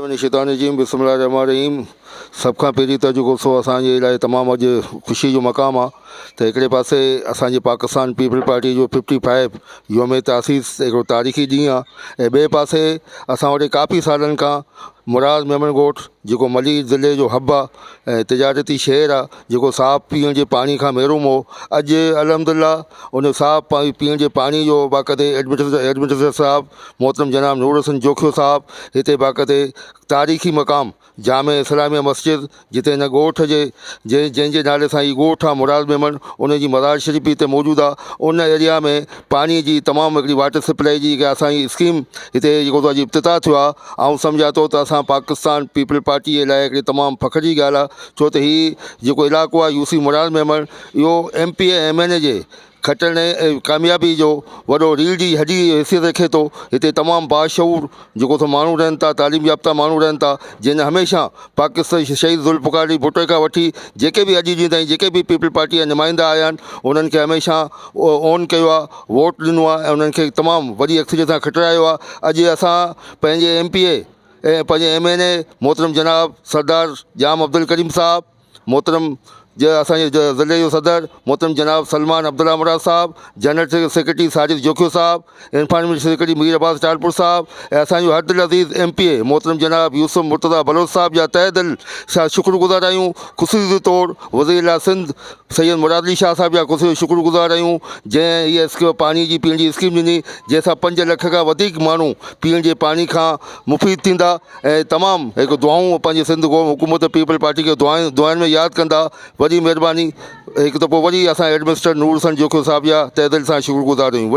من الشيطان الرجيم بسم الله الرحمن الرحيم سڀ کان پهرين ته جيڪو سو اسان جي لاء تمام اڄ خوشي جو مقام آهي ته هڪڙي پاسي اسان جي پاڪستان پيپلز پارٽي جو ففٽي فائيو يوم تاسيس هڪڙو تاريخي ڏينهن آهي ۽ ٻئي پاسي اسان وٽ ڪافي سالن کان مراد ميمڻ ڳوٺ جيڪو ملير ضلعي جو حب آهي ۽ تجارتي شهر آهي جيڪو صاف پيئڻ جي پاڻي کان محروم هو اڄ الحمد لله ان صاف پيئڻ جي پاڻي جو باقاعدي ايڊمنسٽريٽر صاحب محترم جناب نور حسن جوکيو صاحب هتي باقاعدي تاريخي مقام جامع اسلاميه مسجد جتي هن ڳوٺ جي جي جنهن جي نالي سان هي ڳوٺ آهي مراد ميمڻ ان جي مزار شريف هتي موجود آهي ان ايريا ۾ پاڻي جي تمام هڪڙي واٽر سپلائي جي جيڪا اسان جي اسڪيم هتي جيڪو تو اڄ افتتاح ٿيو آهي آئون سمجهان ٿو ته اسان پاڪستان پيپلز پارٽي جي لاء هڪڙي تمام فخر جي ڳالهه آهي ڇو ته هي جيڪو علائقو آهي يو سي مراد ميمڻ اهو M P M N A جي کٽڻ ۽ ڪاميابي جو وڏو ريڙھ جي ھڏي جي حيثيت رکي ٿو ھتي تمام باشعور جيڪو سو ماڻھو رھن ٿا تعليم يافته ماڻھو رھن ٿا جنھن ھميشه پاڪستان شھيد ذوالفقار علي ڀٽو کان وٺي جيڪي به اڄ جي تائين جيڪي به پيپلز پارٽي جا نمائندا آيا آھن انھن کي ھميشه اون ڪيو آھي ووٽ ڏنو آھي ۽ انھن کي تمام وڏي اڪثريت سان کٽرايو آھي اڄ اسان پنھنجي ايم پي اي ۽ پنھنجي ايم اين اي محترم جناب سردار ڄام عبدالڪريم صاحب محترم اسان جي ضلعي جو صدر محترم جناب سلمان عبدالله مراد صاحب جنرل سيڪريٽري ساجد جوکيو صاحب انفارميشن سيڪريٽري مير عباس ٽالپر صاحب ۽ اسان جو هر دل عزيز ايم پي اي محترم جناب يوسف مرتضيٰ بلوچ صاحب جا تهه دل سان شڪر گذار آهيون خصوصي طور وزير اعليٰ سنڌ سيد مراد علي شاهه صاحب جا خصوصي شڪر گذار آهيون جنهن هيء اسڪيم پاڻي جي پيئڻ جي اسڪيم ڏني جنهن سان پنج لک کان وڌيڪ ماڻهو پيئڻ جي پاڻي کان مفيد ٿيندا ۽ تمام هڪ دعائون پنهنجي سنڌ قوم حڪومت پيپلز پارٽي کي دعائن دعائن ۾ ياد ڪندا وڏي مهرباني هڪ دفعو وري اسان هيڊ مسٽر نور حسن جوکيو صاحب جا تهه دل سان شڪر گذار آهيون وڏي